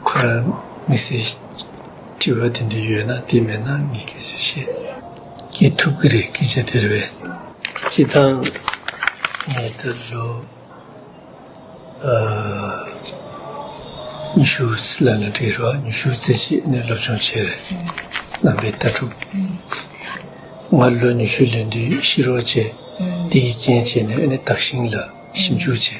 ཁོ་རང་དམིགས་བསལ་དྲི་བ་དེ་འདྲ་ཡོད་ན་དེ་མེད་ན་ངས་སྐད་ཆ་བཤད་ཀྱི་ཐུབ་ཀྱི་རེད་སྐད་ཆ་དེར་བས། སྤྱི་བཏང་ངས་ད་ལོ་ཉི་ཤུ་རྩེ་ལ་ང་འབྲི་རོགས་ཉི་ཤུ་རྩེ་གཅིག་ནས་སློབ་སྦྱོང་བྱས་རེད་གནང་པའི་ལྟ་གྲུབ་ང་ལོ་ཉི་ཤུ་ལོན་དུས་ཤི་རོགས་བྱས་དེ་ཡི་རྐྱེན་བྱས་ནས་ཨ་ནེ་དག་ཞིང་ལ་ཞིབ་འཇུག་བྱས།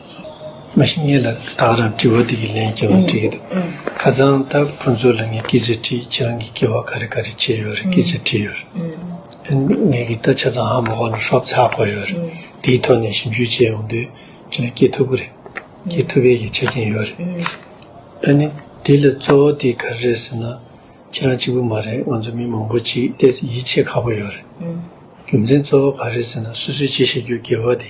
མ་གཞི་ངས་ལ་དྭགས་རང་དྲི་བ་འདི་གི་ལན་སྐྱེ་བ་དྲི་གི་འདུག་ཁ་ཚང་ད་ཁོང་ཚོ་ལ་ངས་སྐད་ཆ་དྲིས་ཁྱེད་རང་གི་སྐྱེ་བ་ག་རེ་ག་རེ་བྱས་ཡོད་རེད་སྐད་ཆ་དྲིས་ཡོད་རེད་ཨ་ནི་ངས་གི་ད་ཆ་ཚང་ཧ་མོ་ཁོ་ལ་ཧྲོབ་ཚག་གོ་ཡོད་རེད་དེའི་ཐོག་ནས་ཞིབ་འཇུག་བྱས་ཡོང་དུས་ཁྱེད་རང་སྐྱེ་ཐུབ་ཀི་རེད་སྐྱེ་ཐུབ་པའི་ཡིད་ཆ་སྐྱེན་ཡོད་རེད་ཨ་ནི་དེ་ལ་གཙོ་བོ་དེ་ག་རེ་རེད་ཟེར་ན་ཁྱེད་རང་གཅིག་པུ་མ་རེད་ང་ཚོ་མི་མང་པོ་གཅིག་བལྟས་ཚེ་ཡིད་ཆེས་ཁག་པོ་ཡོད་རེད་རྒྱུ་མཚན་གཙོ་བོ་ག་རེ་ཟེར་ན་སོ་སོས་ཅི་བཤད་རྒྱུའི་སྐལ་བ་དེ།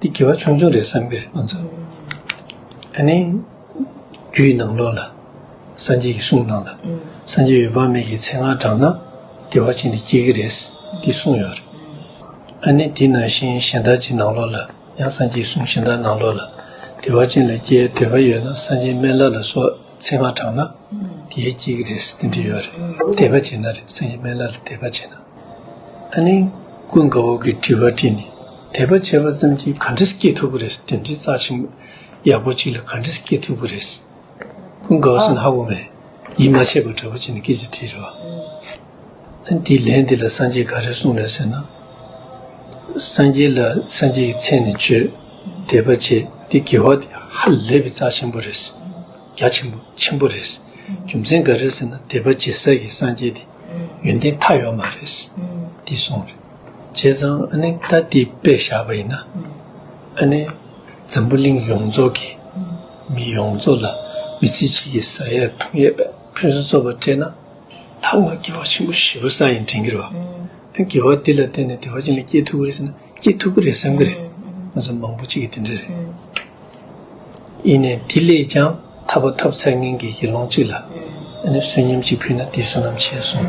འདི་དགེ་བ་ཆུང་ཆུང་རེད་བསམ་གྱི་རེད་ང་ཚོ། ད་ནི། རྒྱུ་ཡི་ནང་ལོགས་ལ། སངས་རྒྱས་ཀྱི་གསུང་གནང་ལ། སངས་རྒྱས་ཡོད་དཔག་མེད་ཀྱི་ཚེ་སྔགས་བགྲང་ན། བདེ་བ་ཅན་དུ་སྐྱེ་གི་རེད། འདི་གསུངས་ཡོད་རེད། ཨ་ནི་འདི་ནང་བཞིན་གཞན་དག་ཅིག་ནང་ལོགས་ལ། ཡང་སངས་རྒྱས་གསུང་གཞན་དག་ནང་ལོགས་ལ། བདེ་བ་ཅན་ལ་སྐྱེ་འདོད་པ་ཡོད་ན་སངས་རྒྱས་སྨན་བླ་ལ་སོགས་ཚེ་སྔགས་བགྲང་ན། དེས་སྐྱེ་གི་རེད་འདི་འདྲི་ཡོད་རེད། དད་པ་བྱེད་ན་རེད་སངས་རྒྱས་སྨན་བླ་ལ་དད་པ་བྱེད་ན། ཨ་ནི། ཀུན་དགའ་བོ་གིས་དྲི་བ་དྲིས་ནས། དད་པ་བྱས་པ་ཙམ་གྱིས་ག་འདྲི་སྐྱེས་ཐུབ་ཀྱི་རེད་དེ་འདྲི་རྩ་ཆེན་པོ་ཡག་པོ་ཅིག་ལ་ག་འདྲི་སྐྱེས་ཐུབ་ཀྱི་རེད། ཀུན་དགའ་བོ་སེམས་ཧ་གོ་མེད་ཡིད་མ་ཆེས་པ་འདྲ་པོ་བྱས་ནས་སྐད་ཅིག་དྲིས་རེད་བ། འདིས་ལན་འདི་ལ་སངས་རྒྱས་ག་རེ་གསུངས་རེད་ཟེར་ན། སངས་རྒྱས་ལ་སངས་རྒྱས་ཀྱི་མཚན་ནས་བརྗོད། དད་པ་བྱས་འདི་དགེ་བ་འདི་ཧ་ལས་པའི་རྩ་ཆེན་པོ་རེད། རྒྱ་ཆེན་པོ་ཆེན་པོ་རེད། རྒྱུ་མཚན་ག་རེ་ཟེར་ན་དད་པ་བྱས་ཟེར་གྱི་སངས་རྒྱས་འདི་ཡོན་ཏན་མཐའ་ཡོད་མ་རེད། འདིས་གསུངས་རེད། བྱས་ཙང་ཨ་ནི་ད་ལྟའི་དཔེ་བཞག་པ་ཡིན་ན། ཨ་ནི་འཛམ་བུ་གླིང་ཡོངས་རྫོགས་ཀྱི་མི་ཡོངས་རྫོགས་ལ་མི་ཚེ་གཅིག་གི་ས་ཡས་ཐུང་ཡས་པའི་ཕུན་སུམ་ཚོགས་པ་སྤྲད་ན། ད་ང་དགེ་བ་ཆེན་པོ་བཞི་པོ་ས་ཡིན་དྲན་གི་རེད། དགེ་བ་འདི་ལ་བརྟེན་ནས་བདེ་བ་ཅན་ལ་སྐྱེས་ཐུབ་ཀི་རེད་ཟེར་ན་སྐྱེས་ཐུབ་ཀི་རེད་བསམ་གི་རེད། ང་ཚོ་མང་པོ་གཅིག་གིས་དེ་འདྲ་རེད། ཡིན་ནས་དེ་ལས་ཀྱང་ཐར་བ་ཐོབ་ཚད་ངན་གི་དགེ་སློང་གཅིག་ལ་ཨ་ནི་བསོད་སྙོམས་གཅིག་ཕུལ་ན་དེས་བསོད་ནམས་ཆེ་སོང།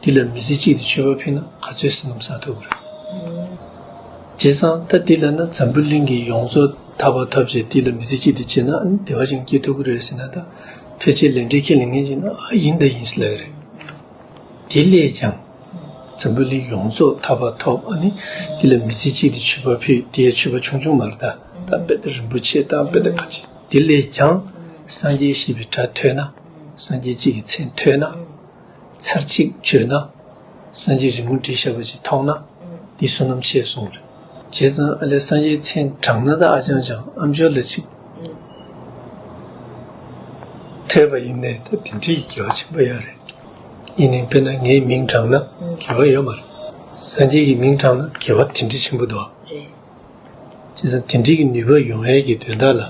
འདི་ལ་མི་ཚེ་གཅིག་དེ་སྤྱོད་པ་ཕུད་ན་ག་ཚོད་ཟིན་ནམ་ཟ་ཐུབ་ཀྱི་རེད། བྱས་ཙང་ད་འདི་ལ་ན་འཛམ་བུ་གླིང་གི་ཡོངས་རྫོགས་ད་བར་ཐབས་བྱས་འདི་ལ་མི་ཚེ་གཅིག་དེ་སྤྱད་ན་བདེ་བ་ཅིང་སྐྱིད་ཐུབ་ཀྱི་རེད་ཟེར་ན་ད་ཕལ་ཆེར་ལས་འབྲས་ཁས་ལེན་མཁན་ཞིག་ན་ཨ་ཡིན་ད་ཡིན་ཟེར་ལ་ཀྱི་རེད། དེ་ལས་ཀྱང། འཛམ་བུ་གླིང་ཡོངས་རྫོགས་ད་བར་ཐོབ་ཨ་ནི་འདི་ལ་མི་ཚེ་གཅིག་དེ་སྤྱོད་པ་ཕུད་དེ་ཡང་སྤྱོད་པ་ཆུང་ཆུང་མ་རེད་ད་ད་དཔེ་ད་རིན་པོ་ཆེ་ད་དཔེ་ད་ག་ཅིག་དེ་ལས་ཀྱང། སངས་རྒྱས་ཞེས་པའི་སྒྲ་ཐོས་ན། སངས་རྒྱས་གཅིག་གི་མཚན་ཐོས་ན། ཚར་གཅིག་བརྗོད་ན། སངས་རྒྱས་རིང་མོ་འདྲི་ཞབས་པ་ཅིག་མཐོང་ན། འདི་བསོད་ནམས་ཆེ་གསུངས། བྱས་ཙང་ཨ་ལས་སངས་རྒྱས་མཚན་བགྲང་ན་ད་ཨ་ཅང་ཅང་ཨ་མཆོག་ལ་ཅིག། ཐོས་པ་ཡིན་ནས་ད་དེ་འདྲི་ཡི་གེ་བ་ཆེན་པོ་ཡག་རེད། ཡིན་ནའི་དཔེར་ན་ངའི་མིང་བགྲང་ན་གེ་བ་ཡོད་མ་རེད། སངས་རྒྱས་ཀྱི་མིང་བགྲང་ན་གེ་བ་དེ་འདྲི་ཆེན་པོ་འདུག། རེད། ཅེས་དེ་འབྲེལ་གྱི་ནུས་པ་ཡོང་ཡལ་གྱི་དོན་དག་ལ་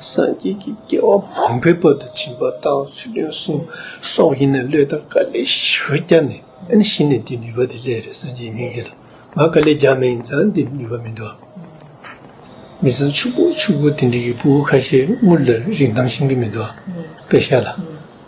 སངས་རྒྱས་ཀྱི་སྐལ་བ་མང་པོའི་བར་དུ་བྱིན་པ་དང་ཚུལ་སྟོན་གསུང་སོགས་ཡིན་ན་བློས་དང་དཀའ་ལས་ཞི་བར་བསྐྱར་ནས་ཨེ་ན་ཤི་ནས་དེ་ནུས་པ་དེ་སླད་རེ་སངས་རྒྱས་མིང་འདི་ལ་ང་དཀའ་ལས་རྒྱག་མ་ཡིན་ཙང་འདི་ནུས་པ་མི་འདུག་མི་ཚང་ཕྱུག་པོ་ཕྱུག་པོ་དེ་འབྲེལ་གྱི་སྤུ་བོ་ཁ་ཤས་དངུལ་ལ་རིགས་འདམ་ཤིང་གི་མི་འདུག་པས་ཤ་ལ།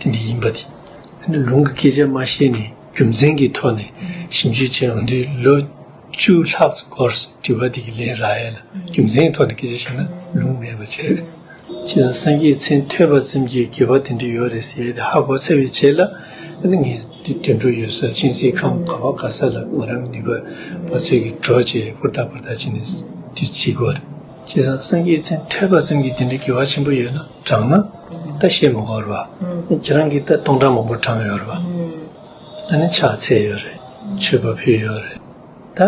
དེ་འདི་ཡིན་པ་དེ་ནི་ལུང་གི་སྐད་ཆ་མ་བཤད་ནས་རྒྱུ་མཚན་གྱི་ཐོག་ནས་ཞིབ་འཇུག་བྱས་འོན་ཏེ་ལོ་བཅུ་ལྷག་སྐོར་དྲི་བ་འདི་གི་ལན་རག་ཡས་ལ་རྒྱུ་མཚན་གྱི་ཐོག་ནས་སྐད་ཆ་བཤད་ན་ལུང་མེད་པ་ཆེ། ཅི་ལ་སངས་རྒྱས་མཚན་ཐོས་པ་ཙམ་གྱིས་དགེ་བ་དེ་འདྲ་ཡོད་རེད་ཟེར་ཏེ་ཧ་གོ་ཚར་བའི་ཆེད་ལ་ངས་དུད་འགྲོ་ཡོད་སར་སྤྱན་གཟིགས་ཁང་ག་བ་ག་ས་ལ་ངོས་རང་ནུས་པ་པ་ཚོད་ཀྱིས་འགྲོ་ཅེས་ཧུར་ཐག་ཧུར་ཐག་བྱས་ནས་དུས་གཅིག་གོ། ཅི་ལ་སངས་རྒྱས་མཚན་ཐོས་པ་ཙམ་གྱིས་དེ་འདྲ་དགེ་བ་ཆེན་པོ་ཡོད་ན། དྲངས་ན་ད་ཤེས་མི་དགོས་རེད་པ། ཁྱེད་རང་གིས་ད་སྟོང་ཕྲག་མང་པོ་དྲངས་ཡོད་རེད་པ། ད་ནི་ཕྱག་འཚལ་ཡོད་རེད་མཆོད་པ་ཕུལ་ཡོད་རེད། ད་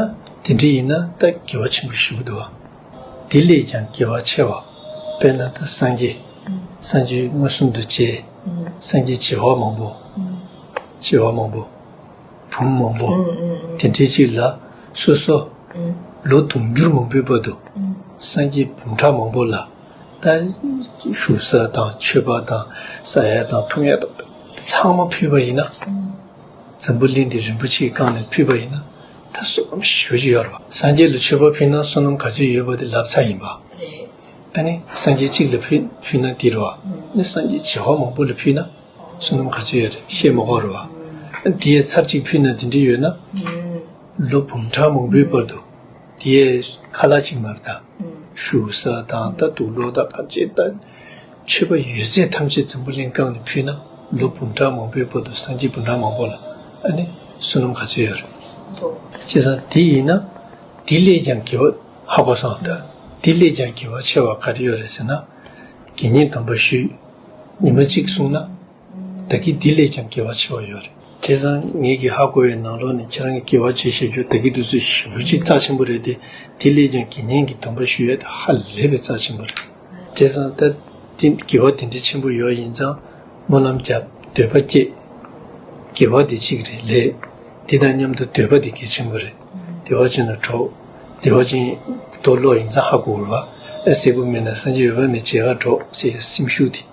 དེ་འདྲ་ཡིན་ན་ད་དགེ་བ་ཆེན་པོ་ཞུ་གི་འདུག་བ། དེ་ལས་ཀྱང་དགེ་བ་ཆེ་བ་དཔེར་ན་ད་སངས་རྒྱས་སངས་རྒྱས་མངོན་སུམ་དུ་བྱས་སངས་རྒྱས་བྱེ་བ་མང་པོ། བྱེ་བ་མང་པོ། བུམ་མང་པོ། དེ་འདྲའི་ཅིག་ལ་སོ་སོ། ལོ་དུང་འགྱུར་མང་པོའི་བར་དུ་སངས་རྒྱས་བུམ་ཕྲག་མང་པོ་ལ། དང། བཞུགས་ས་དང་མཆོད་པ་དང་ས་ཡ་དང་ཐུགས་ཡ་དང་ཚང་མ་ཕུལ་བ་ཡིན་ན། འཛམ་བུ་གླིང་འདི་རིན་པོ་ཆེའི་བཀང་ནས་ཕུལ་བ་ཡིན་ན་ད་བསོད་ནམས་ཞེ་ཞུ་བྱེད་ཡོད་རེད་པ། སངས་རྒྱས་ལ་མཆོད་པ་ཕུལ་ན་བསོད་ནམས་ག་ཚོད་ཡོད་པ་དེ་ལབ་ཚ་ཡིན་པ། ཨ་ནི་སངས་རྒྱས་གཅིག་ལ་ཕུལ་ན་འདི་རེད་བ། ནི་སངས་རྒྱས་བྱེ་བ་མང་པོ་ལ་ཕུལ་ན་བསོད་ནམས་ག་ཚོད་ཡོད་རེད་བཤད་མ་གོ་རེད་བ། དེ་ཡས་ཚར་གཅིག་ཕུལ་ན་འདི་འདྲི་ཡོད་ན། ལོ་འབུམ་ཕྲག་མང་པོའི་བར་དུ་དེ་ཡས་ཁ་ལག་གཅིག་མ་རེད་ད། བཞུགས་ས་དང་ལྟ་འདུག་ལོག་ལྟ་བར་ཆད་ལྟ་འཆོལ་པ་ཡོད་ཚད་ཐམས་ཅད་འཛམ་བུ་གླིང་བཀང་ནས་ཕུལ་ན་ལོ་འབུམ་ཕྲག་མང་པོའི་བར་དུ་སངས་རྒྱས་འབུམ་ཕྲག་མང་པོ་ལ་ཨ་ནི་བསོད་ནམས་ག་ཚོད་ཡོད་རེད། ཅི་ཟ་དེ་ཡིན་ན་དེ་ལས་ཀྱང་དགེ་བ་ཧ་གོ་སོང་ད་དེ་ལས་ཀྱང་དགེ་བ་ཆེ་བ་ག་རེ་ཡོད་རེད་ཟེར་ན། དགེ་བསྙེན་དམ་པ་ཞུས། ཉི་མ་གཅིག་གསུངས་ན་བདག་གིས་འདི་ལས་ཀྱང་དགེ་བ་ཆེ་བ་ཡོད་རེད། དེ་བཟང་ངེད་ཀྱིས་ཧ་གོ་བའི་ནང་ལོག་ནས་ཁྱེད་རང་གི་དགེ་བ་ཆེ་བཤད་རྒྱུ་བདག་གིས་དུས་ཚོད་ཞིབ་བོ་ཆེ་རྩ་ཆེན་པོ་རེད་དེ། དེ་ལས་ཀྱང་དགེ་བསྙེན་གྱི་འདུན་པ་ཞུ་ཡས་དེ་ཧ་ལས་པའི་རྩ་ཆེན་པོ་རེད། དེ་བཟང་ད་དེ་དགེ་བ་དེ་འདྲའི་ཆེན་པོ་ཡོད་ཡིན་ཙང་སྨོན་ལམ་རྒྱབ་འདོད་པ་སྐྱེས། དགེ་བ་དེ་གཅིག་རེད་ལས། དེ་དང་མཉམ་དུ་འདོད་པ་དེ་གལ་ཆེན་པོ་རེད། བདེ་བ་ཅན་དང་གྲོགས། བདེ་བ་ཅན། དུ་ལོག་ཡིན་ཙང་ཧ་གོ་དགོས། བ་ཨ་གསལ་པོ་མེད་ན་སངས་རྒྱས་འོད་དཔག་མེད་མཇལ་ཁར་འགྲོ་ཟེར་ཡས་སེམས་ཤུགས་དེ།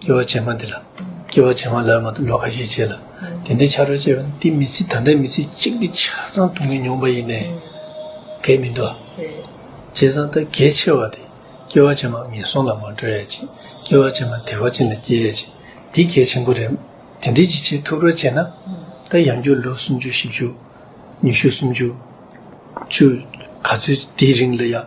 སྐྱེ་བ་བྱེ་མ་འདི་ལ། སྐྱེ་བ་བྱེ་མ་ལ་མ་ཏུ་ལོ་ཁ་ཤས་བྱས་ལ། དེ་འདྲའི་ཕྱ་རོལ་བཅས་པ་ནི་དེ་མི་སྲིད་ད་ལྟའི་མི་ཚེ་གཅིག་གི་ཆ་ཚང་དུ་ངས་མྱོང་པ་ཡིན། གལ་མི་འདུག། བྱས་ཙང་ད་གལ་ཆེ་བ་དེ། སྐྱེ་བ་བྱེ་མ་ངན་སོང་ལ་མ་འགྲོ་ཡ་ཅིག་སྐྱེ་བ་བྱེ་མ་དལ་བ་ཅན་ལ་སྐྱེ་ཡ་ཅིག་འདི་གལ་ཆེན་པོ་རེད། དེ་འདྲའི་ཅི་བྱེད་ཐུབ་རོགས་བྱས་ན། ད་ཡང་བསྐྱུར་ལོ་སུམ་ཅུ་བཞི་བཅུ། ཉི་ཤུ་སུམ་ཅུ། བཅུ། ག་ཚོད་དེའི་རིང་ལ་ཡང།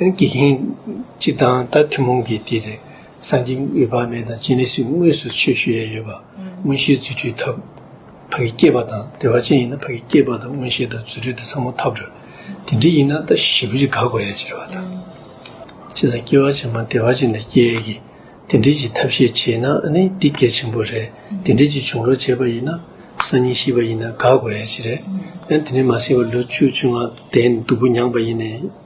དགེ་རྒན་གཅིག་དང་ད་ཐུན་མོང་གི་དེ་རེད། སངས་རྒྱས་འོད་དཔག་མེད་དང་སྤྱན་རས་གཟིགས་དངོས་སུ་ཆོས་ཞུ་ཡས་ཡོད་པ། མངོན་ཤེས་རྫུ་འཕྲུལ་ཐབས། ཕ་གི་སྐྱེས་པ་དང་དེ་བ་ཅན་ཡིན་ན་ཕ་གི་སྐྱེས་པ་དང་མངོན་ཤེས་དང་རྫུ་འཕྲུལ་དེ་ཚང་མ་ཐབས་རེད། དེ་འདྲ་ཡིན་ན་ད་ཞི་བུ་རི་དགའ་གོ་ཡས་ཅེར་བ་དང། ཅི་ཟེར་སྐྱེ་བ་ཅན་མ་དེ་བ་ཅན་ལས་སྐྱེ་ཡས་ཀྱི། དེ་འདྲས་ཀྱི་ཐབས་ཤེས་བྱས་ན་ནི་འདི་གལ་ཆེན་པོ་རེད། དེ་འདྲས་ཀྱི་བྱུང་རོགས་བྱས་པ་ཡིན་ན། སང་ཉིན་ཤི་བ་ཡིན་ན་དགའ་གོ་ཡས་ཅི་རེད། ཡང་དེ་འདྲས་མ་སྲིང་བ་ལོ་བཅུ་བཅུ་ལྔ་འདས་ནས་སྡུག་པོ་མྱངས་པ་ཡིན་ནས།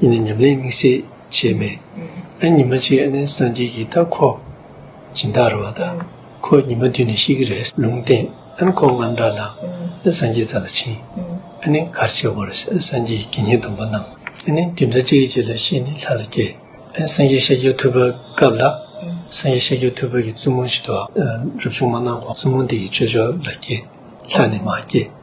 གཉིས་ནི་ཉམས་ལེན་དམིགས་བསལ་བྱས་མེད། ཨ་ཉི་མ་གཅིག་ནི་སངས་རྒྱས་ཀྱི་རྟགས་ཁོ། སྦྱིན་བདག་རུ་བ་ད། ཁོ་ཉི་མ་བདུན་ནི་ཤི་ཀི་རེས་ལུང་བསྟན། ཨན་ཁོ་རྔམ་དྲག་ལ། ཨི་སངས་རྒྱས་ཙ་ལ་ཕྱིན། ཨ་ནི་གར་བྱེད་བོ་རེས་ཨི་སངས་རྒྱས་ཀྱི་ཉེས་སྡུག་པོ་གནང། ཨ་ནི་བདུན་ཕྲག་གཅིག་གི་རྗེས་ལ་ཤི་ནི་ལྷ་ལ་སྐྱེས། ཨན་སངས་རྒྱས་ཤཱཀྱའི་ཐུགས་ཕར་བཀབ་ལ། སངས་རྒྱས་ཤཱཀྱའི་ཐུགས་ཕར་གྱི་བཙུན་མོ་ཞིག་ཏུ། རབ་བྱུང་མ་གནང་གོང་བཙུན་མོ་འདི་ཡི་ཆོས་ཕྱོགས་ལ་སྐྱེས། ལྷ་ནི་མ་སྐྱེས།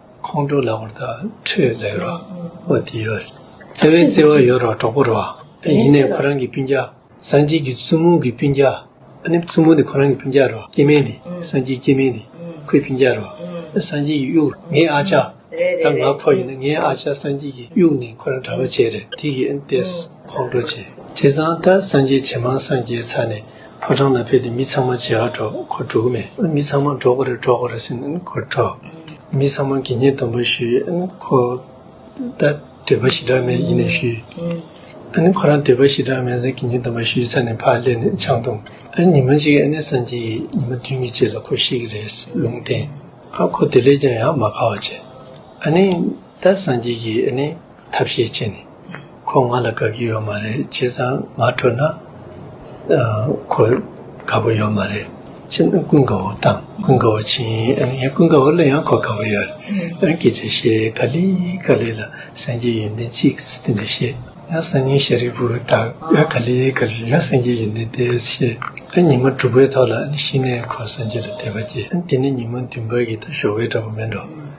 ཁོང་ཁྲོ་ལ་བར་དག་ཁྲོས་ལེགས་ར་བ་དེ་ཡོད། བརྩེ་བའི་བརྩེ་བ་ཡོད་ར་གྲོགས་པོ་ར་བ། ཡིན་ནས་ཁོ་རང་གི་སྤུན་རྒྱ། སངས་རྒྱས་ཀྱི་བཙུན་མོ་གི་སྤུན་རྒྱ། ཨ་ནི་བཙུན་མོ་འདི་ཁོ་རང་གི་སྤུན་རྒྱ་ར་བ་སྐྱེ་དམན་འདི་སངས་རྒྱས་སྐྱེ་དམན་འདི་ཁོའི་སྤུན་རྒྱ་ར་བ། སངས་རྒྱས་ཀྱི་དབྱུག་ངའི་ཨ་ཅག། ད་ང་ཁོ་ཡིན་ན་ངའི་ཨ་ཅག་སངས་རྒྱས་ཀྱི་དབྱུག་ནི་ཁོ་རང་གྲ་བ་བྱས་རེད་དེ་གིས་ཨ་ནི་ཏེས་ཁོང་ཁྲོ་བྱས། དེ་ཙང་ད་སངས་རྒྱས་ཇེ་མང་སངས་རྒྱས་ཚར་ནས། ཕོ་བྲང་ལ་ཕེབས་ཏེ་མི་ཚང་མ་ཇེ་ཧ་འགྲོ་ཁོ་འགྲོ་གི་མེད་མི་ཚང་མ་འགྲོ་གི་རེད་འགྲོ་གི་རེད་ཟེར་ནས་ཁོ་འགྲོ། མི་ཚང་མ་དགེ་བསྙེན་སྡོམ་པ་ཞུས་ཁོ་ད་འདོད་པ་ཞི་དྲག་མེད་ཡིན་ནས་ཞུས། ཁོ་རང་འདོད་པ་ཞི་དྲག་མེད་ཟེར་དགེ་བསྙེན་སྡོམ་པ་ཞུས་ཚར་ནས་ཕར་སླེབས་ནས་ཆང་འཐུང། ཉི་མ་གཅིག་ཨ་ནེ་སངས་རྒྱས་ཡིན་ཉི་མ་བདུན་གྱི་རྗེས་ལ་ཁོ་ཤི་གི་རེད་ཟེར་ལུང་བསྟན། ཁོ་དེ་ལས་ཀྱང་ཡང་མ་དགའ་བ་བྱས། ཨ་ནེ། ད་སངས་རྒྱས་ཀྱིས་ཨ་ནེ་ཐབས་ཤེས་བྱས་ནས། ཁོ་ང་ལ་དགའ་གི་ཡོད་མ་རེད་བྱས་ཙང་ང་ཁྲོས་ན་ཁོ་དགའ་པོ་ཡོད་མ་རེད་བྱས་ན་ཀུན་དགའ་བོ་དང་ཀུན་དགའ་བོ་བྱས་ཡིན་ཀུན་དགའ་བོ་ལ་ཡང་ཁོ་དགའ་བོ་ཡོད་རེད་ཨ་ཀྱེ་ཅེ་ཤེས་ག་ལི་ག་ལི་ལ་སངས་རྒྱས་ཡོན་ཏན་གཅིག་དེ་འདྲ་ཤེས་ཡང་སང་ཉིན་ཤ་རི་བུ་དང་ཨ་ག་ལི་ག་ལི་ཡང་སངས་རྒྱས་ཡོན་ཏན་དེ་ཤེས་ཨ་ཉི་མ་དྲུག་པའི་ཐོག་ལ་ཤི་ནས་ཁོ་སངས་རྒྱས་ལ་དད་པ་སྐྱེས་དེ་ནས་ཉི་མ་བདུན་པ་གི་ད་ཞོགས་ཀའི་འདྲ་པོ་མེད་འགྲོ།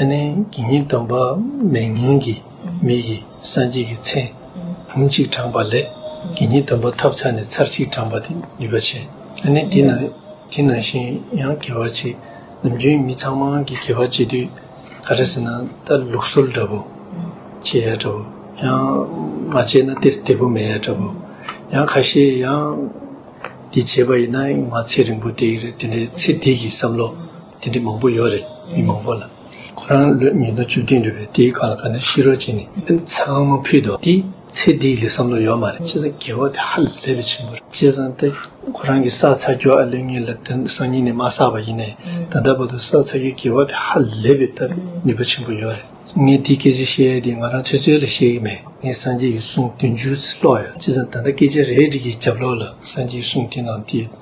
ཨ་ནེ་ཀྱི་ཉིད་སྟོན་པ་མའི་མིང་གི་མིག་གིས་སངས་རྒྱས་ཀྱི་མཚན་བུམ་གཅིག་དྲངས་པ་ལས་ཀྱི་ཉིད་སྟོན་པ་ཐབས་ཚར་ནས་ཚར་གཅིག་དྲངས་པ་དེ་ནུས་པ་ཆེ། ཨ་ནེ་དེ་ནང་དེ་ནང་བཞིན་ཡང་དགེ་བ་བྱེད་ནམ་རྒྱུན་མི་ཚང་མ་གི་དགེ་བ་བྱེད་དུས་ག་རེ་ཟེར་ན་ད་ལུགས་སྲོལ་འདྲ་པོ་བྱེད་ཡ་འདྲ་པོ་ཡང་མ་བྱས་ན་དེ་བདེ་པོ་མེད་ཡ་འདྲ་པོ་ཡང་ཁ་ཤས་ཡང་དེ་བྱེད་པ་ཡིན་ན་ང་ཚེ་རིང་པོ་དེ་རེད་དེ་འདྲའི་ཚེ་འདི་གི་བསམ་བློ། དེ་འདྲ་མང་པོ་ཡོད་རེད་མི་མང་པོ་ལ། ཁོ་རང་ལོས་ཉིས་སྟོང་བཅུ་བདུན་རེད་པས་དེའི་སྐབས་ལ་ག་འདྲ་ཤི་རོ་བྱས་ནས་ཚང་མ་ཕུད་དོ་དེ་ཚེ་འདི་ལས་བསམ་བློ་ཡོད་མ་རེད། སྤྱི་ཚང་དགེ་བ་དེ་ཧ་ལས་པའི་ཆེན་པོ་རེད། སྤྱི་ཚང་དེ་ཁོ་རང་གིས་བསགས་ཚར་རྒྱུ་ཨ་ལོས་ངེད་ལ་དེ་སང་ཉིན་ནས་མ་བསགས་པ་ཡིན་ནའི་ད་ལྟ་བར་དུ་བསགས་ཚར་རྒྱུའི་དགེ་བ་དེ་ཧ་ལས་པའི་ལྟ་ནུས་པ་ཆེན་པོ་ཡོད་རེད། ངས་དེ་སྐད་ཆ་བཤད་ཡས་དེ་ང་རང་ཚོད་ཚོད་ལ་བཤད་གི་མེད་ངས་སངས་རྒྱས་ཀྱི་གསུང་བདུན་ཅུ་ཚི་ཀློག་ཡོད་སྤྱི་ཚང་ད་ལྟ་སྐད་ཆ་རེ་བྲིས་ཀྱི་རྒྱབ་ལོག་ལ་སངས་རྒྱས་ཀྱི་གསུང་དེ་ནང་དེ་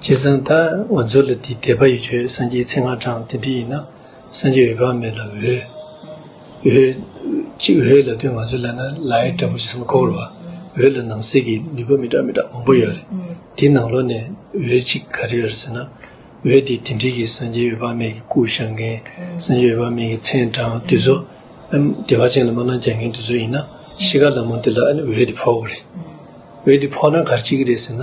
བྱས་ཙང་ད་ང་ཚོ་ལ་འདི་དད་པ་ཡོད་ཆོས་སངས་རྒྱས་ཚེ་སྔ་དྲང་དེ་འདྲི་ཡིན་ན་སངས་རྒྱས་འོད་དཔག་མེད་ལ་འོད། འོད། ཅིག་འོད་ལ་དོན་ང་ཚོ་ལ་ན་ལའི་འདྲ་པོ་ཅིག་སམ་ཁོག་ལོ་འོད་ལ་ནང་གསེས་ཀྱི་ནུས་པ་མི་འདྲ་མི་འདྲ་མང་པོ་ཡོད་རེད་དེ་ནང་ལོ་ནས་འོད་ཅིག་ག་རེ་ཡོད་ཟེར་ན་འོད་དེ་དེ་འདྲི་གི་སངས་རྒྱས་འོད་དཔག་མེད་ཀྱི་སྐུ་ཞག་མཁན་སངས་རྒྱས་འོད་དཔག་མེད་ཀྱི་མཚན་དྲང་དུས་ཚོད་ཨ་བདེ་བ་ཅན་ལ་སྨོན་ལམ་རྒྱག་མཁན་དུས་ཚོད་ཡིན་ན་ཤི་ཁ་ལ་མོ་འདི་ལ་འོད་དེ་ཕོག་གོ་རེད་འོད་དེ་ཕོག་ན་གར་ཅིག་གི་རེད་ཟེར་ན།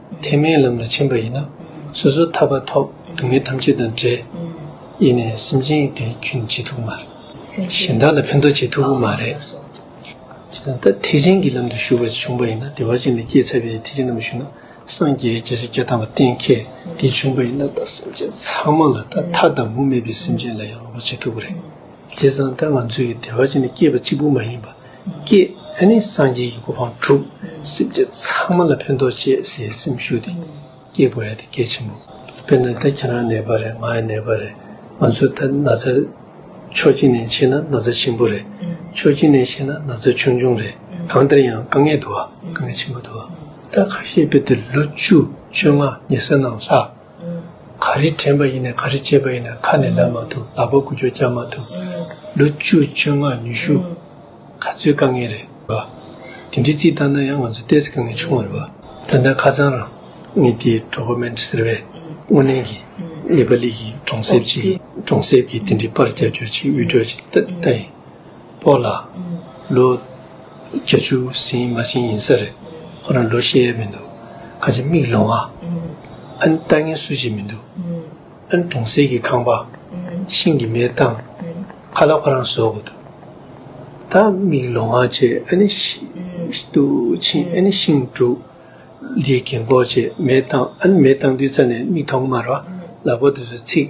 ཐེག་དམན་ལམ་ལ་ཕྱིན་པ་ཡིན་ན། སོ་སོའི་ཐར་པ་ཐོབ། སྡུག་བསྔལ་ཐམས་ཅད་དང་བྲལ། ཡེ་ནས་སེམས་ཅན་དོན་གྱིས་ཇེ་ཐུགས་མ། གཞན་དག་ལ་ཕན་འདོགས་ཇེ་ཐུགས་ཀྱི་མ་རེད། ད་ཐེག་ཆེན་གྱི་ལམ་དུ་ཞུགས་པར་བྱུང་པ་ཡིན་ན་དེ་བར་ཅན་ལས་སྐྱེས་ཚར་བའི་ཐེག་ཆེན་ལམ་དུ་ཞུགས་ན་སངས་རྒྱས་རྒྱལ་སྲིད་བརྒྱ་དང་བ་བརྟན་གལ་ཏེ་བྱུང་པ་ཡིན་ན་ད་སེམས་ཅན་ཚང་མ་ལ་ད་མཐའ་དང་མུ་མེད་པའི་སེམས་ཅན་ལ་ཡང་ལོག་པ་ཇེ་ཐུགས་ཀྱི་རེད། བྱས་ཙང་ད་ང་ཚོས་ཀྱི་དེ་བར་ཅན་ལས་སྐྱེས་པ་གཅིག་པུ་མ་ཡིན་པ། སྐྱེས། སངས་རྒྱས་ཀྱི་གོ་འཕང་དྲུག། སེམས་ཅན་ཚང་མ་ལ་ཕན་ཐོགས་བྱེད་ཟེར་བའི་སེམས་ཞུགས་ཏེ། སྐྱེས་བུ་ཨེ་ཏི་སྐྱེས་ཆེན་པོ། དཔེར་ན་ད་ཁྱེད་རང་ནད་པ་རེད་ང་ཡང་ནད་པ་རེད། ང་ཚོས་ད་ན་ཚ། ཕྱོགས་གཅིག་ནས་བཤད་ན་ན་ཚ་ཆེན་པོ་རེད། ཕྱོགས་གཅིག་ནས་བཤད་ན་ན་ཚ་ཆུང་ཆུང་རེད། གང་ལྟར་ཡང་དཀའ་ངལ་འདུག་ཨ། དཀའ་ངལ་ཆེན་པོ་འདུག་ཨ། ད་ཁ་ཤས་དཔེ་དེབ་ལོ་བཅུ་བཅོ་ལྔ་ཉེ་སར་ནང་ལྷག། ག་རེ་དྲན་པ་ཡིན་ནས་ག་རེ་སྤྱད་པ་ཡིན་ནས་ཁ་ནས་ལབ་མ་ཐུབ་ལག་པ་ཀུ་ཅོ་རྒྱག་མ་ཐུབ། ལོ་བཅུ་བཅོ་ལྔ་ཉི་ཤུ། ག་ཚོད་དཀའ་ངལ་རེད། དེ་འདྲའི་རྩིས་བཏང་ན་ཡང་ང་ཚོ་ལྟས་དཀའ་ངལ་ཆུང་བ་རེད། ད་ལྟ་ཁ་སང་རང་ངེད་དེ་གྲོགས་པོ་མན་ཏྲི་ཟེར་བས་དངོས་གནས་ཀྱི་ནེ་པ་ལི་གི་གྲོང་གསེབ་ཅིག་གི་གྲོང་གསེབ་ཀྱི་དེ་འདྲའི་པར་རྒྱབ་སྐྱོར་ཅིག་དབུལ་སྒྲོལ་ཅིག་ལྟ་ཡིན། པོ་ལ། ལོ། བརྒྱ་བཅུ་ཟིན་མ་ཟིན་ཡིན་ས་རེད། ཁོ་རང་ལོ་ཤེས་ཡ་མི་འདུག་ཁ་ཆེ་མིག་ལོང་ཨ། ཨ་ནི་ལྟ་ངན་སུ་བྱེད་མི་འདུག་ཨ། ཨ་ནི་གྲོང་གསེར་གྱི་ཁང་པ། ཤིང་གི་མེ་བཏང། ཁ་ལ་ཁོ་རང་བཟོ་དགོས་འདུག་ད། མིག་ལོང་ཨ་བྱས་ཨ་ནི། ཏུ་ཕྱིན་ཨ་ནི་ཤིང་བསྒྲུགས། ལིའི་གན་གོག་བྱས་མེ་བཏང་ཨ་ནི་མེ་བཏང་དུས་རྩ་ནས་མིག་མཐོང་གི་མ་རེད། ལག་པ་དུས་སུ་ཚིག།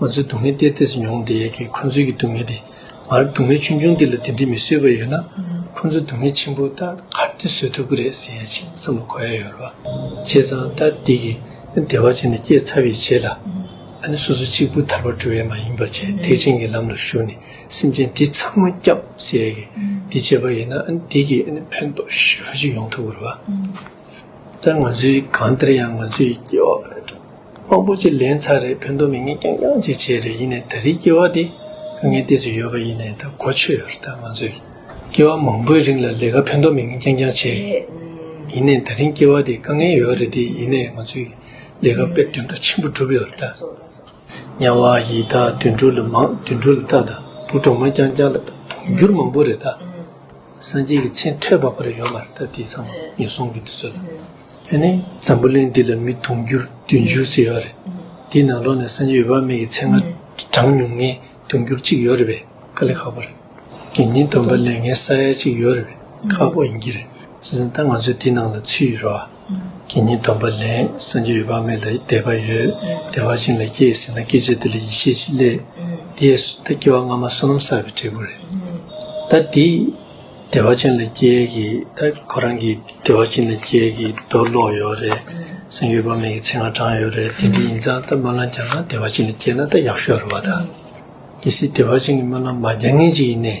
ང་ཚོའི་སྡུག་བསྔལ་གཏེར་གཏེར་སུ་མྱོང་བསྡད་ཡས་ཁྱེད་ཁོ་ཚོའི་གྱི་སྡུག་བསྔལ་དེ། ང་ར་སྡུག་བསྔལ་ཆུང་ཆུང་འདི་ལ་དེ་འདྲི་མི་བཟོད་པ་ཡོད་ན། ཁོ་ཚོའི་སྡུག་བསྔལ་ཆེན་པོ་ད་ག་འདྲི་བཟོད་ཐུབ་གི་རེད་ཟེར་ཡས་ཆེ་བསམ་ལ་གོ་ཡས་ཡོད་རེད་བ། བྱས་ཙང་ད་འདི་གི་བདེ་བ་ཅན་ནས་སྐྱེས་ཚར་བས་བྱས་ལ། ཨ་ནི་སོ་སོ་གཅིག་པུ་ཐར་པ་འགྲོ་ཡས་མ་ཡིན་པ་བྱས་ཐེག་ཆེན་གྱི་ལམ་ལ་ཞུགས་ནས་སེམས་ཅན་འདི་ཚང་མ་སྐྱབས་ཟེར་ཡས་ཀྱི་འདི་བྱས་པ་ཡིན་ན་ཨ་ནི་འདི་གི་ཨ་ནི་ཕན་ཐོགས་ཞོ་ཅིག་ཡོང་ཐུབ་གི་རེད་བ། ད་ང་ཚོའི་གང་སྟེར་ཡང་ང་ཚོའི་སྐྱེ་བ་རེད་འགྲོ། དབང་པོ་ཅིག་ལེན་ཚར་རེད་ཕན་ཐོག་མི་ངན་རྐྱང་རྐྱང་ཅིག་བྱས་རེད་ཡིན་ནའི་ད་རེའི་སྐྱེ་བ་འདི་དཀའ་ངལ་ཏིག་ཅིག་ཡོད་པ་ཡིན་ནའི་ད་གོ་ཆོད་ཡོད་རེད་ད་ང་ཚོའི་སྐྱེ་བ་མང་པོའི་རིང་ལ་ལས་ཀ་ཕན་ཐོག་མི་ངན་རྐྱང་རྐྱང་བྱས་རེད་ཡིན་ནའི་ད་རིང་སྐྱེ་བ་འདི་དཀའ་ངལ་ཡོད་རེད་དེ་ཡིན་ནའི་ང་ཚོའི་ལས་ཀ་དཔེར་འདོན་ད་ཆེན་པོ་བསྒྲུབས་ཡོད་རེད་ད། དམྱལ་བ་ཡི་དྭགས་དུད་འགྲོ་ལ་མང་དུད་འགྲོ་ལ་དག་དང་བུ་གྲོག་མ་རྐྱང་རྐྱང་ལ་དང་དུང་འགྱུར་མང་པོ་རེ་དག། སངས་རྒྱས་ཀྱི་མཚན་ཐོས་པ་པོ་རེ་ཡོད་མ་རེ་དག་དེ་ཚང་མ་ངན་སོང་གི་དུས་ཚོད་ལ། དེ་ནས་འཛམ་བུ་གླིང་འདི་ལ་མི་དུང་འགྱུར་བདུན་ཅུ་ཟེར་ཡོད་རེད། དེའི་ནང་ལོགས་ནས་སངས་རྒྱས་འོད་དཔག་མེད་ཀྱི་མཚན་ང་གྲངས་ཉུང་ངེ་དུང་འགྱུར་གཅིག་ཡོད་རེད་པས་དཀའ་ལས་ཁག་པོ་རེད། དགེ་བསྙེན་སྡོམ་པ་ལས་ངན་ས་ཡ་གཅིག་ཡོད་རེད་པས་ཁག་པོ་ཡིན་གྱི་རེད། བྱས་ཙང་ད་ང་ཚོས་དེའི་ནང་ལ་ཚུད་ཡོད་རེད་བ། དེ་ཉིད་སྡོམ་པ་ལས་སངས་རྒྱས་ཡོད་པ་མེད་ལ་འདས་པ་ཡོད། བདེ་བ་ཅན་ལ་སྐྱེ་ཟིན་ན་སྐྱེ་བྱེད་དེ་ལས་ཡེ་ཤེས་ཀྱི་ལས། དེ་ལྟར་སྐྱེ་བ་སྔ་མ་བསོད་ནམས་བསགས་པའི་འབྲས་བུ་རེད། ད་དེ་བདེ་བ་ཅན་ལ་སྐྱེ་གི་ད་ཁོ་རང་གིས་བདེ་བ་ཅན་ལ་སྐྱེ་གི་རྡོ་སློག་ཡོད་རེད། སེམས་ཡོད་པ་མེད་ཀྱི་ཚིག་ང་དྲངས་ཡོད་རེད་དེ་འདྲ་ཡིན་ཙང་ད་སྨོན་ལམ་བརྒྱག་ན་བདེ་བ་ཅན་ལ་སྐྱེ་ན་ད་ཡག་ཤོས་རེད་བ་ད། གལ་སྲིད་བདེ་བ་ཅན་གྱི་སྨོན་ལམ་མ་བརྒྱག་ངེས་ཅིག་ཡིན་ནས།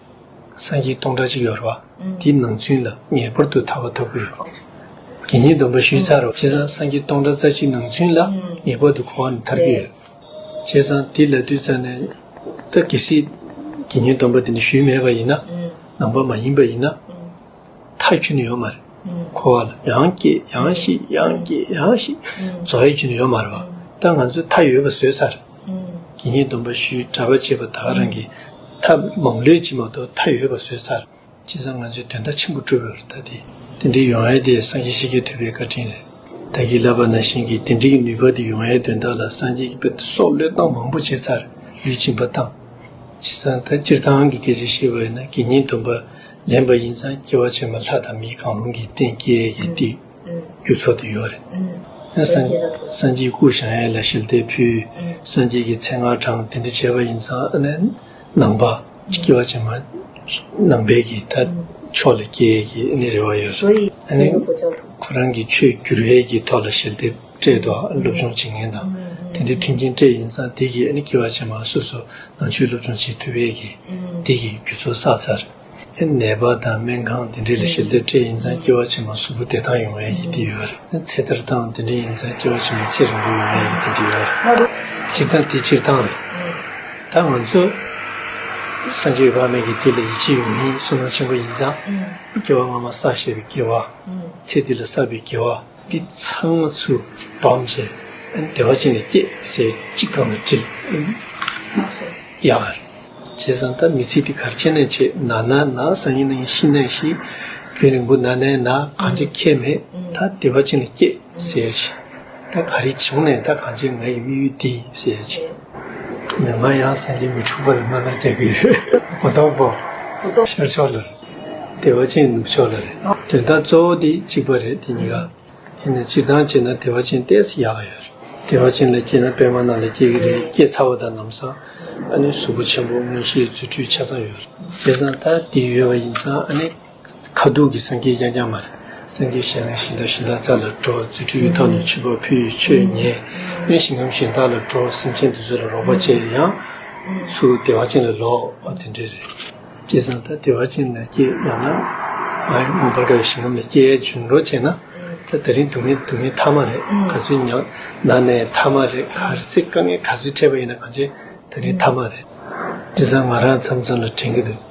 སངས་རྒྱས་སྟོང་ཕྲག་གཅིག་ཡོད་རེད་བ། དེའི་ནང་ཚུན་ལ་ངེས་པར་དུ་ཐར་བ་ཐོབ་དགོས་ཡོད་རེད། དགེ་བསྙེན་སྡོམ་པ་ཞུས་ཚར་རེད་བ། བྱས་ཙང་སངས་རྒྱས་སྟོང་ཕྲག་རྩ་གཅིག་ནང་ཚུན་ལ་ངེས་པར་དུ་གོང་བ་ནས་ཐར་གྱི་ཡོད་རེད། བྱས་ཙང་དེ་ལ་དུས་ཙམ་ནས་ད་གལ་སྲིད་དགེ་བསྙེན་སྡོམ་པ་དེ་ནས་ཞུས་མེད་པ་ཡིན་ན། ནང་པ་མ་ཡིན་པ་ཡིན་ན། མཐའི་རྒྱུ་ནི་ཡོད་མ་རེད། འཁོར་བ་ལ་ཡང་སྐྱེས་ཡང་ཤི་ཡང་སྐྱེས་ཡང་ཤི། རྫོགས་ཡས་རྒྱུ་ནི་ཡོད་མ་རེད། ད་ང་ཚོས་མཐའ་ཡོད་པ་བཟོས་ཚར་རེད། དགེ་བསྙེན་སྡོམ་པ་ཞུས་གྲྭ་པ་བྱས་པ་དག་རང་གིས་མཐའ་མང་ལུས་བྱིན་མ་གཏོགས་མཐའ་ཡོད་པ་བཟོས་ཚར་རེད། བྱས་ཙང་ང་ཚོས་དོན་མཐའ་ཆེན་པོ་བསྒྲུབ་ཡོད་རེད་ད་དེ། དེ་འདྲའི་ཡོང་ཡས་དེ་སངས་རྒྱས་ཤིག་གིས་ཐུབ་པའི་བཀའ་དྲིན་རེད། བདག་གིས་བསླབ་པ་ན་བཞིན་གྱིས་དེ་འདྲའི་ནུས་པ་དེ་ཡོང་ཡས་དོན་དག་ལ་སངས་རྒྱས་ཀྱི་བཀའ་དེ་སྲོག་བློས་བཏང་མང་པོ་བྱས་ཚར་རེད་ལུས་བྱིན་པ་བཏང། བྱས་ཙང་ད་སྤྱིར་བཏང་གི་དགེ་ཚུལ་བཤད་པ་ཡིན་ན་དགེ་བསྙེན་སྡོམ་པ་ལེན་པ་ཡིན་ཙང་སྐྱེ་བ་ཕྱི་མ་ལྷ་དང་མིའི་གང་རུང་གི་སྟེང་སྐྱེ་ཡས་ཀྱི་སྟེ། རྒྱུ་ཚོགས་དུ་ཡོད། སངས་རྒྱས་སྐུ་བཞེངས་ཡས་ལ་ཞལ་བདེ་ཕུལ། སངས་རྒྱས་ཀྱི་མཚན་སྔགས་བགྲང་དེ་འདི་བྱས་པ་ཡིན་ཙང། ནང་པ། སྐྱེ་བ་ཕྱི་མ། ནང་པའི་ཀྱི་ད་ཕྱོགས་ལ་སྐྱེ་ཡས་ཀྱི་རེ་བ་ཡོད། ཁོ་རང་གི་ཆོས་བསྒྱུར་ཡས་ཀྱི་ཐོག་ལ་ཞལ་བདེ། སྤྲད་དོ། སློབ་སྦྱོང་བྱེད་མཁན་དང། དེ་འདྲའི་མཐུན་རྐྱེན་སྤྲད་ཡིན་ཙང་དེ་གིས་སྐྱེ་བ་ཆེན་མོའང་སོ་སོ་ནང་ཆོས་སློབ་སྦྱོང་བྱེད་ཐུབ་བས་ཀྱི། དེ་གིས་རྒྱུ་ཚོགས་བསགས་ཚར། ནད་པ་དང་སྨན་ཁང་དེ་འདྲའི་ལས་བྱེད་ཚད་སྤྲད་ཡིན་ཙང་སྐྱེ་བ་ཆེན་མོ་གཟུགས་པོ་བདེ་ཐང་ཡོང་བས་ཀྱི་དེ་ཡོད། ཚེ་ཐར་སྟངས་དེ་འདྲའི་ཡིན་ཙང་སྐྱེ་བ་ཆེན་མོ་ཚེ་རིང་པོ་ཡོང་བས་ཀྱི་དེ་འདྲའི་ཡོད། སྤྱིར་བཏང་དེ་སྤྱིར་བཏང་རེད། ད་ང་ཚོ། སངས་རྒྱས་དཔག་མེད་ཀྱི་དེ་ལ་ཡིད་ཆེས་ཡོང་མིན་སུན་སྣང་ཆེན་པོ་ཡིན་ཙང། སྐྱེ་བ་སྔ་མ་བསགས་ཞེས་པའི་སྐྱེ་བ། ཚེ་འདི་ལ་བསགས་པའི་དགེ་བ། འདི་ཚང་མ་ཚུར་བསྡོམས་བྱས་བདེ་བ་ཅན་ལ་སྐྱེས་ཟེར་གཅིག་གམ་ལ་དྲིལ། ཡག་ག་རེད། བྱས་ཙང་ད་མི་ཚེ་འདི་གར་ཆད་ནས་ཆད་ན་ན་ན་ས་ཉིན་ན་ཡིན་ཤི་ན་ཤི། རྒྱུན་རིང་པོ་ན་ན་ན་གང་ཅི་ཁྱད་མེད་ད་བདེ་བ་ཅན་ལ་སྐྱེས་ཟེར་གྱིས། ད་ག་རེ་བྱུང་ནས་ད་གང་ཅི་ང་ཡི་དམིགས་ཡུལ་འདི་ཡིན་ཟེར་གྱིས། ང་ཡང་སེམས་ཅན་མི་འཁྲུག་པ་ལ་སྨོན་ལམ་བཏབ་ཀྱི་ཡོད། གོ་ཐོག་པོ། ཤར་ཕྱོགས་ལ་རེད། བདེ་བ་ཅན་ནུབ་ཕྱོགས་ལ་རེད། དོན་དག་གཙོ་བོ་དེ་གཅིག་པ་རེད་དེ་གཉིས་ཀ། དེ་ནི་སྤྱིར་བཏང་བྱས་ན་བདེ་བ་ཅན་བལྟས་སུ་ཡག་གི་ཡོད་རེད། བདེ་བ་ཅན་ལ་སྐྱེས་ན་པད་མ་རྣམས་ལ་སྐྱེ་གི་རེད་སྐྱེས་ཚར་བ་དང་ལམ་སང་ཨ་ནི་གཟུགས་པོ་ཆེན་པོ་དངོས་གཞིའི་རྫུ་འཕྲུལ་ཆ་ཚང་ཡོད་རེད། བྱས་ཙང་ད་དེ་ཡོད་པ་ཡིན་ཙང་ཨ་ནི། ཁ་དུག་གི་སངས་རྒྱས་རྐྱང་རྐྱང་མ་རེད། སངས་རྒྱས་གཞན་ལ་ཤིང་རྟ་ཤིང་རྟ་ཙར་ལ་འགྲོ་རྫུ་འཕྲུལ་ཡུལ་དག་ནོར་བྱེད་པ་ཕུལ་ཆོས་ཉན། དབེན་ཞིང་ངམ་ཞིང་བདག་ལ་འགྲོ་སེམས་ཅན་དུ་ཚུར་ལ་རོགས་པ་བྱས་ཡང། ཚུར་བདེ་བ་ཅན་ལ་ལོག་འོ་དེ་འདྲས་རེད། ཀྱེ་བཟང་ད་བདེ་བ་ཅན་ལ་སྐྱེས་ཡོང་ན། མངོན་པར་དགའ་བའི་ཞིང་ངམ་ལ་སྐྱེ་ཡའི་འཇུག་འགྲོ་བྱས་ན། ད་ད་རིང་སྡུག་བསྔལ་སྡུག་བསྔལ་མཐའ་མ་རེད་ག་ཚོད་མྱངས་ན་ནས་མཐའ་མ་རེད་ག་ཚེ་དཀའ་ངལ་ག་ཚོད་འཕྲད་པ་ཡིན་ན་གང་བྱས་ད་རིང་མཐའ་མ་རེད། ཀྱེ་བཟང་ང་རང་མཚམས་མཚམས་ལ་དྲན་གྱི་འདུག།